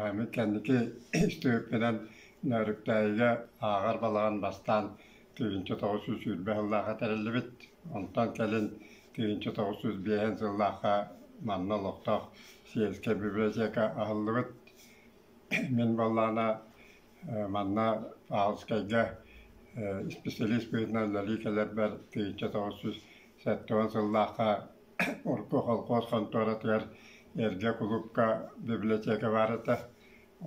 Эми кэнники истиһиппинэн Нөөрүктээйигэ ааҕар балаҕан бастаан тыһыынча тоҕус сүүс сүүрбэ сыллаахха тэриллибит. Онтон кэлин тыһыынча тоҕус сүүс биэһин сыллаахха манна олохтоох сельскэй библиотека аһыллыбыт. Мин буоллаҕына манна Павловскайга исписэлиис быһыытынан үлэлии кэлэрбэр тыһыынча тоҕус сүүс сэттэ уон сыллаахха Орто холкуос хонтуоратыгар эргэ кулуупка бибилэтиэкэ баар этэ.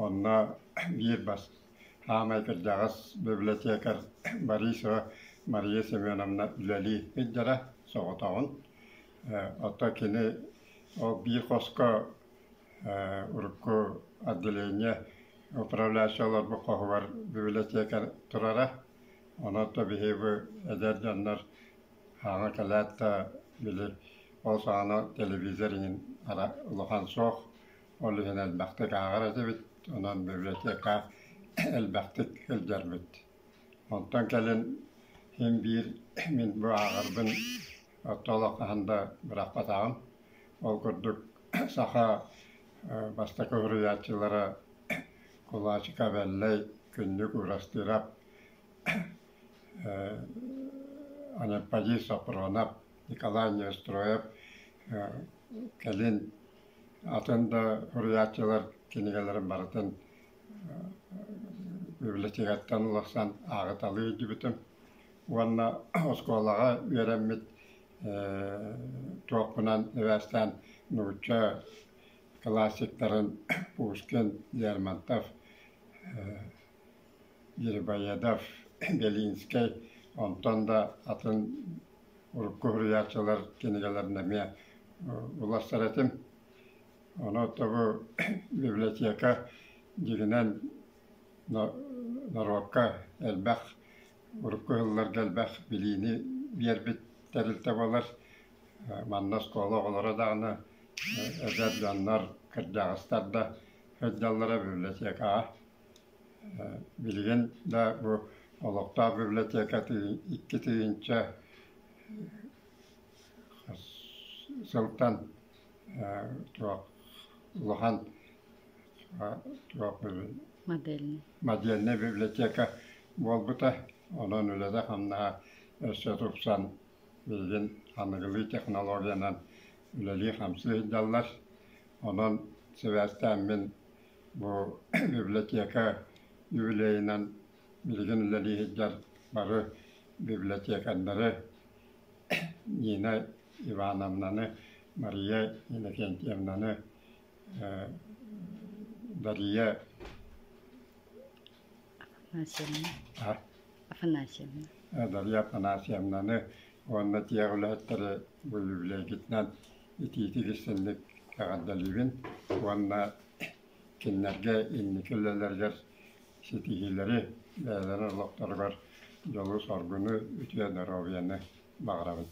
Онно биир бас саамай кырдьаҕас бибилэтиэкэр Борисова Мария Семеновна үлэлии сылдьара, соҕотоҕун. Оттон кини ол биир хоско урукку отделение управляющай олорбут хоһугар бибилэтиэкэ турара. Онон биһиги эдэр дьоннор Ааҕа кэлээт да били ол саҕана телевизор иҥин ара улахан суох, ол иһин элбэхтик ааҕар этибит, онон библиотека элбэхтик сылдьарбыт. Онтон кэлин син биир мин бу ааҕарбын орто олох хаһан да бырахпатаҕым. Ол курдук саха бастакы уһуруйааччылара кулачик Абэллэй, Күннүк Уурастыырап Анападьей Софронов, Николай Неустроев кэлин атын да суруйааччылар кинигэлэрин барытын библиотекаттан улахсан ааҕыталыы илдьибитим уонна оскуолаҕа үөрэммит туохпунан эбээстээн нуучча классиктарын Пушкин Лермонтов Ербоядов, Белинскэй, онтон да атын урукку уһуруйааччылар кинигэлэрин эмиэ уларсар этим. Ону оттогу библиотека дьиҥинэн норуокка элбэх урукку ыһылларга элбэх билиини биэрбит тэрилтэ буолар. Манна оскуола оҕолоро даҕаны, эдэр дьоннор, кырдьаҕастар да сылдьаллара библиотекаҕа. Билигин да бу олохтоох библиотека икки тыһыынча сылтан туох улахан модельнай библиотека буолбута, онон үлэтэ-хамнаһа өссө тупсан билигин аныгылыы технологиянан үлэлии-хамсыы сылдьаллар. Онон сибээстээн мин Бу библиотека юбилейынан билигин үлэлии сылдьар бары библиотекарьдары Нина Ивановнаны, Мария Иннокентьевнаны, Дария Афанасьевна Афанасьевна Дарья Афанасьевнаны уонна дьиэ үлэһиттэри бу үбүлүөйгитинэн итиитик истинник эҕэрдэлиибин уонна кинилэргэ инники үлэлэригэр ситиһиилэри бэйэлэрин олохторугар дьолу-соргуну, үтүө доруобуйаны баҕарабыт